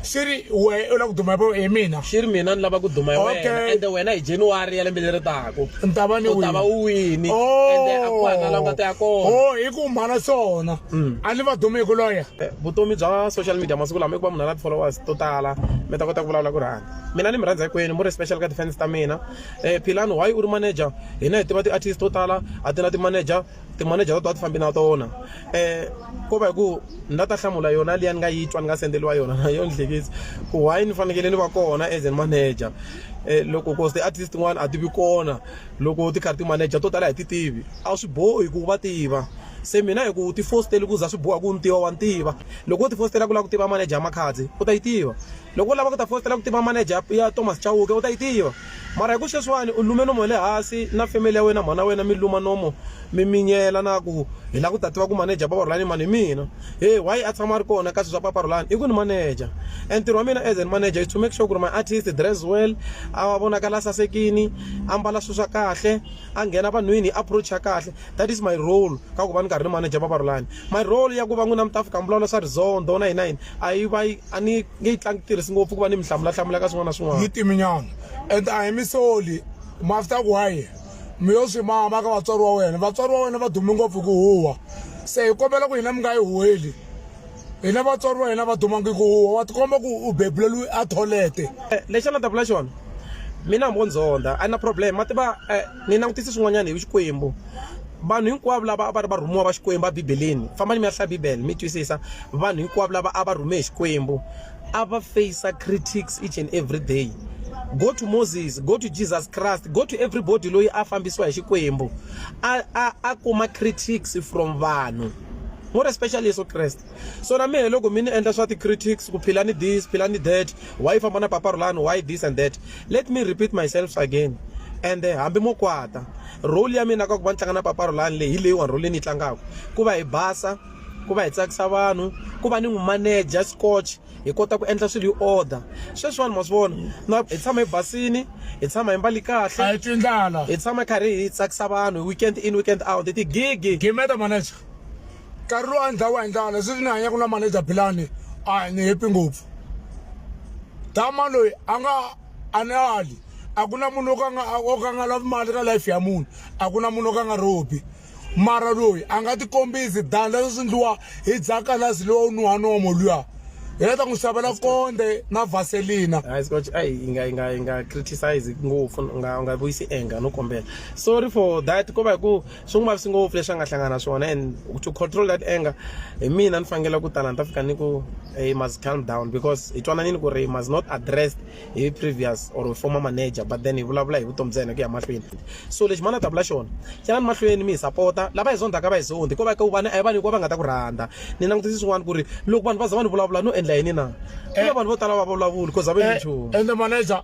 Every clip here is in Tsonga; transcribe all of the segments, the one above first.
swi ri we u lava ku duma hi mina swi ri mina ni lava ku duma hi wena ende wena hi january ya lembe leri taku ni ta va ni u ta va u wini oh. ende a ku hana lava ta ya kona o oh, hi ku mhana swona mm. a ni va dumi hi ku loya eh, vutomi bya social media masiku lama i ku va munhu a na ti-followers to tala mi ta kota ku vulavula ku rhanda mina ni mi rhandza hinkwenu mu ri special ka ti-fans ta mina um philani why u ri manager hina hi tiva ti-artist to tala a ti na ti-manager timanejara to a ti fambi na tona um ko va hi ku ni la ta hlamula yona liya ni nga yi twa ni nga sendeliwa yona na yo ni hlekisa ku why ni fanekele ni va kona as an manager um loko cause ti-artist tin'wana a ti vi kona loko ti karhi ti-manager to tala hi ti tivi a swi bohi ku va tiva se mina hi ku ti fostele ku za swi boha ku ni tiva wa ni tiva loko wo ti fostela ku lava ku tiva manager ya makhadzi u ta yi tiva Loko u lava ku ta fositela ku tiva maneja ya Thomas Chauke u ta yi tiva. Mara hi ku sweswiwani u lume nomu wa le hasi na family ya wena mhana wena mi luma nomu mi minyela na ku hi lava ku ta tiva ku maneja Papa Rhulani i mani hi mina. He why a tshama a ri kona ka swi swa Papa Rhulani i ku ni maneja and ntirho wa mina as an maneja is to make sure ku ri my artist dress well a vonakala a sasekini a mbala swi swa kahle a nghena vanhwini hi approach ya kahle that is my role ka ku va ni karhi ni maneja Papa Rhulani. My role ya ku va n'wina mi ta fika mi vulavula swa rizondho na yini na yini. a yi va yi a ni nge yi tlangi tirhisi ngopfu ku va ni mi hlamulahlamula ka swin'wana na swin'wana yi timinyana and a hi mi soli mi after ku waye mi yo swi mama ka vatswari wa wena vatswari wa wena va dume ngopfu ku huwa se hi kombela ku hina mi nga yi huweli hina vatswari va hina va dumangi ku huwa wa tikomba ku u bebuleliwi a tholete lexi a ni ta vula xona mina hambi o ndzondha a ni na problem ma tiva Ni langutise swin'wanyana hi Xikwembu. Vanhu hinkwavo lava a va ri varhumiwa va Xikwembu eBibeleni, fambani mi ya hlaya Bibele mi twisisa. Vanhu hinkwavo lava a va rhume hi Xikwembu a va face critics each and every day. Go to Moses, go to Jesus Christ, go to everybody loyi a fambisiwa hi Xikwembu a a a kuma critics from vanhu more especially Yeso Kreste. so na mehe loko mi ni endla swa ti-critics ku phila ni this phila ni that why famba na papa rulani why this and that let me repeat myself again and eh, hambi mo kwata role ya mina ka ku va ni tlanga na papa rulani leyi hi leyiwani role leyi ni yi tlangaka ku va hi basa ku va hi tsakisa vanhu ku va ni n'wi manager scotch hi kota ku endla swilo hi order sweswiwani ma swi vona na hi tshama hi basini hi tshama hi mbali kahle a hi tindlala hi tshama hi karhi hi tsakisa vanhu weekend in weekend out hi tigigi gimeta manager nkarhi lowu a ni dlaya wa hi ndlala leswi ni hanyaku na manager bilani a ni hepi ngopfu dama loyi a nga a ni ali a ku na munhu o ka nga o ka nga lavi mali ka life ya munhu a ku na munhu o ka nga robi mara loyi a nga tikombisi dan leswi swi ndliwa hi dzakalasi lowa u nuha nomo luya hi leta n'wi xavela konde na vaselina hayi scotch ayi yi nga yi nga yi nga criticize ngopfu u nga u nga vuyisi anger no kombela sorry for that ko va hi ku swi n'wi vavisi ngopfu leswi a nga hlangana na swona and to control that anger hi mina ni fanekele ku tala ni ta fika ni ku he must calm down because hi twananini ku ri must not addressed hi previous or former manager but then hi vulavula hi vutomi bya yena ku ya mahlweni so lexi mani a ta vula xona xana ni mahlweni mi hi sapota lava hi zondzaka va hi zondi ko va ka vana a hi vanhu hikuva va nga ta ku rhandza ni langutisi swin'wana ku ri loko vanhu va za va ni vulavula no endla yini na ku na vanhu vo tala va vulavuli ko za va nchumu ende manager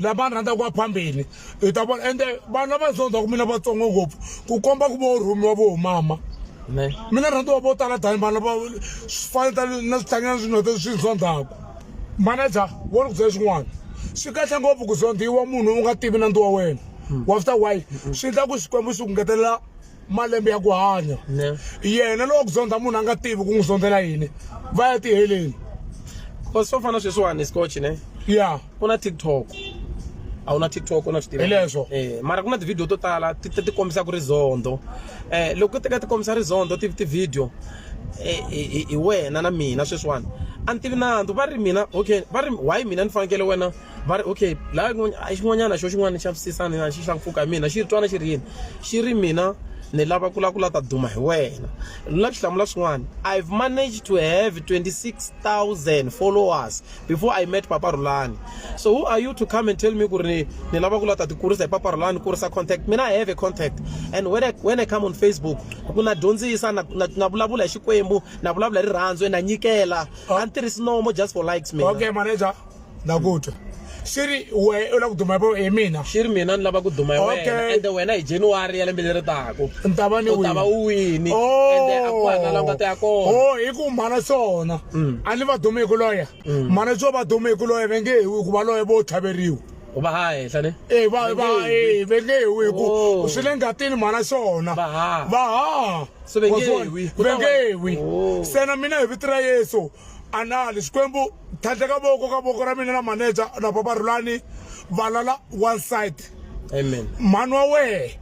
lava ni rhandzaka wa phambili hi ta vona ende vanhu lava ni sondzaka mina vatsongo ngopfu ku komba ku vo rhumiwa vo mama mina rhandziwa vo tala tani vanhu lava faneta na swihlanyana swinota swi sondzaka manager wo ni ku byela xin'wana swi kahle ngopfu ku zondhiwa munhu u nga tivi nandzi wa wena hmm. wa swi ta why hmm. swi endla ku xikwembu xi ku ngetelela malembe ya ku hanya yena lowa ku zondza munhu a nga tivi ku n'wi zondzela yini va ya tiheleni because swo fana sweswiwani scotch ne ya ku na tiktok a wu na tiktok na swi leswo eh mara ku na tivhidiyo to tala ti ti kombisa ku ri zondo eh loko ti ka ti kombisa ri zondo ti tivhidiyo eh, hi wena na mina sweswiwani a ni tivi nandzu va ri mina okay va ri why mina ni fanekele wena va ri okay laha a xin'wanyana xo xin'wana ni xavisisana na xi xa nkoka hi mina xi twana xi ri yini xi ri mina ni lava ku lava ku lava ta duma hi wena na ku hlamula swin'wana i've managed to have 26000 followers before i met papa rulani so who are you to come and tell me ku ri ni lava ku lava ta ti kurisa hi papa rulani kurisa contact mina i have a contact and when i, when I come on facebook ku na dyondzisa na, na, na vulavula hi xikwembu na vulavula hi rirhandzu na nyikela a ni tirhisi nomo just for likes mina okay manager na ku twa xi ri we u lava ku duma hi mina xi ri mina ni lava ku duma hi wena ende wena hi january ya lembe leri taka ni ta va ni u ta va u wini oh. ende a ku hana la nga ta ya kona o oh, hi ku mhana swona mm. a ni va dumi hi ku loya mm. mhana swo va dumi hi ku loya ve nge hi ku va loya vo tlhaveriwa u va ha henhla ne e va va e ve nge hi ku oh. swi le ngatini mhana swona va ha va ha so ve nge hi ve nge hi se na mina hi vito ra yesu anali xikwembu tlhandle ka voko ka voko ra mina na manager na papa rulani valala one side amen mhani wa wehe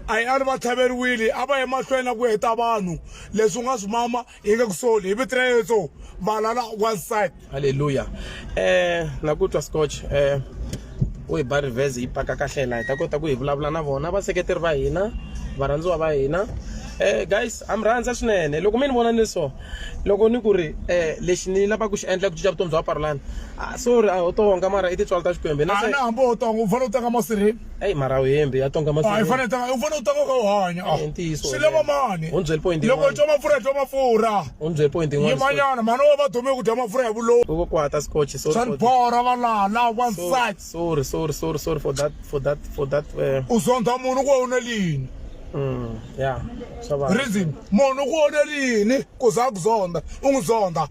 a hi a ni va tlhaveriwile a va emahlweni na ku heta vanhu leswi u nga swi mama hi nge ku soli hi vito ra yesu valala one side halleluya um na ku twa scotch um u hi ba reverse yi paka kahle la hi ta kota ku hi vulavula na vona vaseketeri va hina varhandziwa va hina um guys a mi rhandza swinene loko mi ni vona ni so loko ni ku ri um lexi ni lavaka ku xi endla ku cinca vutomi bya parolani sorry a ho tonga mara i tintswalo ta xikwembu na hambi ho tonga u fanele u tanga masirheni eyi mara wu hembi ya tonga masirheni u fanele u tanga u kha u hanya swi lava mani loko u twa mafurha twa mafurha u ni byele point yin'wana yimanyana mhani wo va dume ku dya mafurha ya vulowo ku kwata scotch sorry swa ni bora va laha laha one side sorry sorry sorry sorry for that for that for that eh. u zondha munhu ku u na lini mm, ya swa va reason munhu ku u na lini ku za ku zondha u n'wi zondha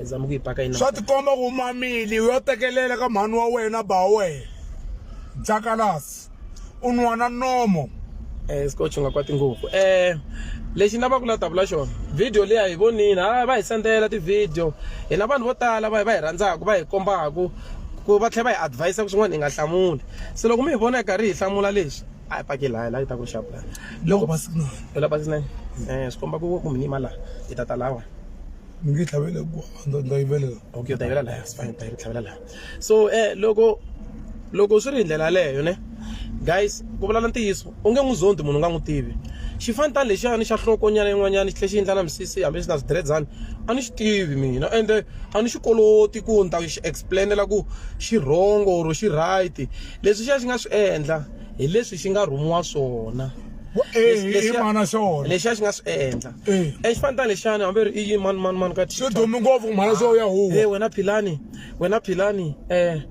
zama ku yi paka yini swa tikomba ku mamili u yo tekelela ka mhani wa wena ba wena jakalasi u nwa na nomo eh scotch nga kwati ngopfu eh lexi ni lavaka ku la davula xona video leyi a hi vonini ha va hi sendela ti-video hina vanhu vo tala va va hi rhandzaka va hi kombaka ku va tlhela va hi advise ku swin'wana hi nga hlamuli se loko mi hi vona hi karhi hi hlamula leswi a hi pake laha laha yi ta ku xapu laha loko basinani la basinani um swi komba ku ku mi nima laha hi ta ta lawa mi nge tlhavele ku ndza yivelela okay u ta yivela laha sifane u ta yi tlhavela laha so eh loko loko swi ri hi ndlela yaleyo ne guys ku vulala ntiyiso u nge n'wi zondi munhu u nga n'wi tivi xifantani lexiyani xa nhlokonyana yin'wanyana xi tlhe xi endlana misisi hambi xi na swidiredzani a ni xi tivi mina ende a ni xi koloti ku ni ta xi explainela ku xi wrong or xi right leswi xi ya xi nga swi endla hi leswi xi nga rhumiwa swona mana xona lexiya xi nga swi endla exifantani lexiyani hambi ri i yi mani mani mani ka xi dumi ngopfu mhana xo ya huwa wena philani wena philani eh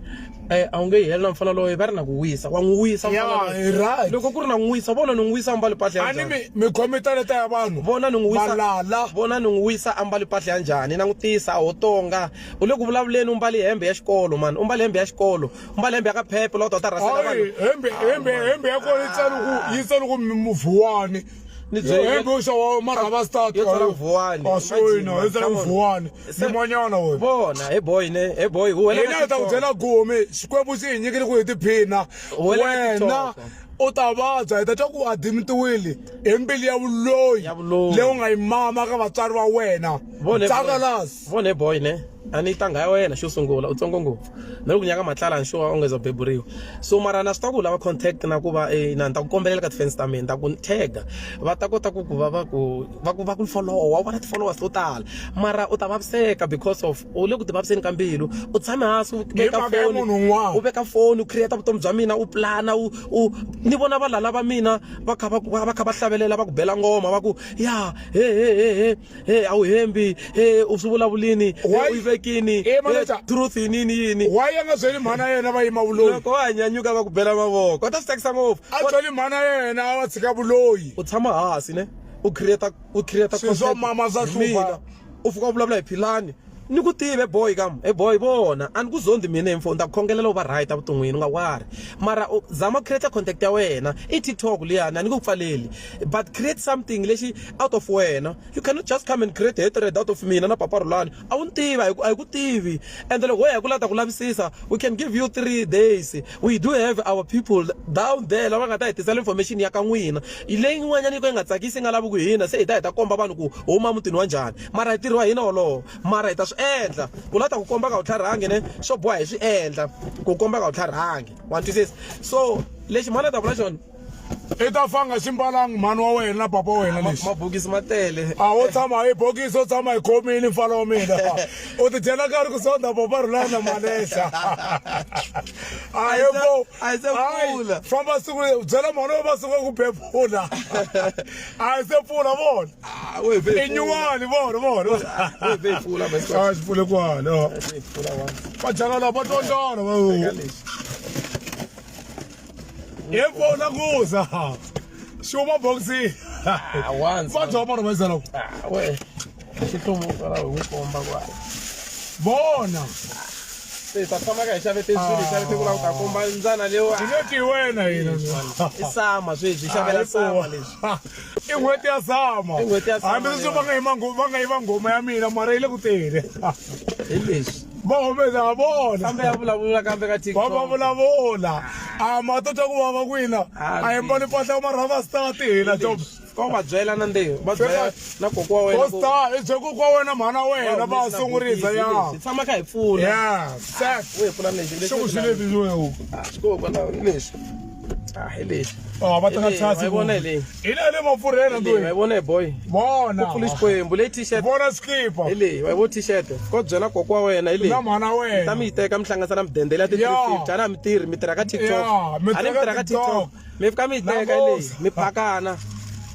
eh a wu nge yi heli na mfana loye va ri na ku wisa wa n'wi wisa Ya, mfana loyi. hi right. loko ku ri na n'wi wisa vona ni n'wi wisa ambali mpahla ya a ni njhani mi mi khome taleta ya vanhu vona ni n'wi wisa valala vona ni n'wi wisa ambali mpahla ya njhani langutisa a ho tonga u le ku vulavuleni u mbali hembe ya xikolo mani u mbali hembe ya xikolo u mbali hembe ya ka phephe lawa u ta u ta rhasela vanhu hayi hembe hembe hembe ya kona yi tsali ku yi tsali ku mi- muvuwani ni byo Hey, bro, xa wa mara va start. Yo tsala vuwani, Wa swi imagine, wina, yo tsala come on. vuwani. Se- Nyimanyana wena. vona he boy ne he boy u wela hina hi ta ku byela gumi xikwembu xi hi nyikile ku hi tiphina Wena wena TikTok. u ta vabya hi ta twa ku u adimitiwile hi mbili ya vuloyi Ya vuloyi. leyi u nga yi mama ka vatswari va wena tsakalas vona he boy ne a ni tanga ya wena xo sungula u tsongo ngopfu na loko nyaka matlala nxuwa u nge za beburiwa so mara na swi ta ku lava contact na ku va eh, na ni ta ku kombelela ka tifensi ta mina ta ku ni tega va ta kota ku ku va va ku va ku va ku followa u vona ti-followers to tala mara u ta vaviseka because of u le ku ti vaviseni ka mbilu u tshame hansi u veka mhaka ya foni munhu un'wana. u veka foni u creata vutomi bya mina u plana u u ni vona valala va mina va kha va va va kha va hlavelela va ku bela ngoma va ku ya he he he he he a wu hembi he u swi vulavulini u yi vekini truth yinini yini wa ya nga byeli mhana yena va yima vuloyi loko wa hanyanyuka va ku bela mavoko va ta swi tsakisa ngopfu a byeli mhana yena a va tshika vuloyi u tshama hansi ne u create u create swilo swa mama swa hlupha u fika u vulavula hi philani ni ku tive boy kam e boy vona a ni ku zondi mina info ni ta ku khongelela u va right evuton'wini u nga wari mara u zama ku create contact ya wena i tiktok liyani a ni ku pfaleli but create something lexi out of wena you cannot just come and create hatred out of mina na papa rhulani a wu ni tivi a hi ku a hi ku tivi ende loko ho ya ku lava ta ku lavisisa we can give you three days We do have our people down there lava nga ta hi tisela information ya ka n'wina leyi n'wanyana yi ka yi nga tsakisi yi nga lavi ku hina se hi ta hi ta komba vanhu ku huma mutini wa njhani mara hi ntirho wa hina wolowo mara hi ta swi endla ku la ta ku komba ka wu tlharhangi ne swo boha hi swi endla ku komba ka wu tlharhangi wa twisisa so lexi mhani a ta vula xona i ta fanga ximbalangi mhani wa wena na papa wa wena lexi mabokisi ma tele a wo tshama hi bokisi u tshama hi khomini mfana wa mina u ti dyela nkarhi ku sonda papa rhulana na malesa a hi ko famba siku byela mhani wa masiku ya ku bebula a hi se pfula vona ah, i nyuwani vona vona a xi pfule kwala va jaka lava va tondana yebo nakuza shuma boxi ah once va bya vanhu va zala ku ah we xihlomo kwala hi n'wi komba kwa bona se ta tshama ka hi xave tenswini xave te kula ku ta komba ndzana lewa hi nge ti wena hina i sama sweswi hi xavela sama leswi i n'hweti ya sama hambi sweswi va nga yi va nga yi va ngoma ya mina mara yi le ku tele hi leswi va humesa ha vona kambe ya vulavula kambe ka va va vulavula a ma to twa ku vava kwina Ah, a hi mbali mpahla ma rhava star ti hina job ka u va byela na ndeyo va byela na koko wa wena ku- ostar i bye ku kwa wena mhana wa wena va humesa sungurisa bokisi, ya leswi. tshama kha hi pfuna ya sek u hi pfuna lexi xi ku xi leti leswi wewu swi kokwalaho lexi Ah, hi leyi. Oh, va teka Hi leyi, chance. hi vona hi leyi. Hi leyi le mapfurhela Hi leyi, wa yi loyi. vona hi boy. Vona. Ku pfula xikwembu leyi t-shirt. Vona skipa. Hi leyi, wa yi vona t-shirt. Ko byela koko wa wena hi leyi. Na mhana wena. Ta mi yi teka mi hlanganisa na mudende leyi ya ti Yeah. 350. Ana mi tirhi, mi tirha ka TikTok. Yeah, mi Ana mi tirha ka tirha ka TikTok. TikTok. Mi fika mi yi teka hi leyi, Namuhla. mi phakana.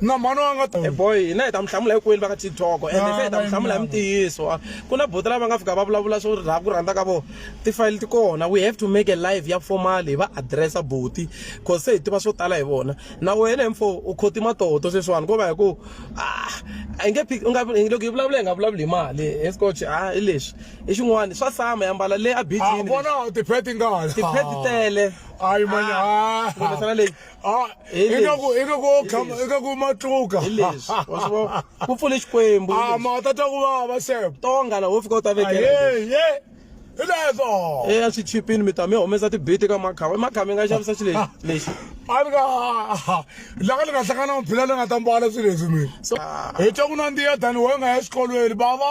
na mhani wa nga eh, boy hina hi ta mi hlamula hikwini va ka tiktok ende ah, se hi ta mi hlamula hi mitiyiso ah, ku na boti lava nga fika va vulavula swo rha ku rhandza ka vona tifayili ti kona we have to make a live ya formal hi va addressa boti cause se hi tiva swo tala hi vona na wena mfo u khoti matoto sweswiwani ko va hi ku ah, a nge loko hi vulavula hi nga vulavuli hi mali hi scotch a hi leswi i xin'wana swa sama ya mbala le a bijini vona tipheti nga tiphe ti tele ayi manyana leyi Ah, Hi leswi. ingaku ingaku wo khama ingaku wo matluka hi leswi wa swi vona ku pfule xikwembu hi ah leswi. ma ta twa ku vava sebo tonga laha wo fika u ta vekela hi leswi. aye ye hi leswo e a swi chipini mi ta mi humesa tibiti ka makhava makhava mi nga xavisa xi lexi lexi a ni nga laka ni nga hlangana maphila ni nga ta mbala swilo leswi mina so hi twa ku nandziya tani wena nga ya exikolweni bava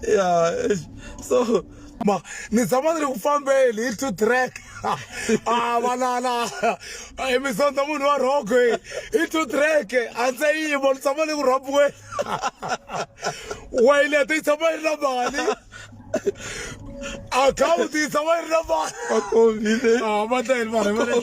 ya so ma ni tshama ni ri ku fambeni hi two track a ah, vanana hi mi sondza munhu wa rhoko hi hi two track a ndze yimo ni tshama ni ku rhabiweni wayilete yi tshama yi ri na mali akhawunti yi tshama yi ri na mali va kombile a ah, va tlayeli vanhu va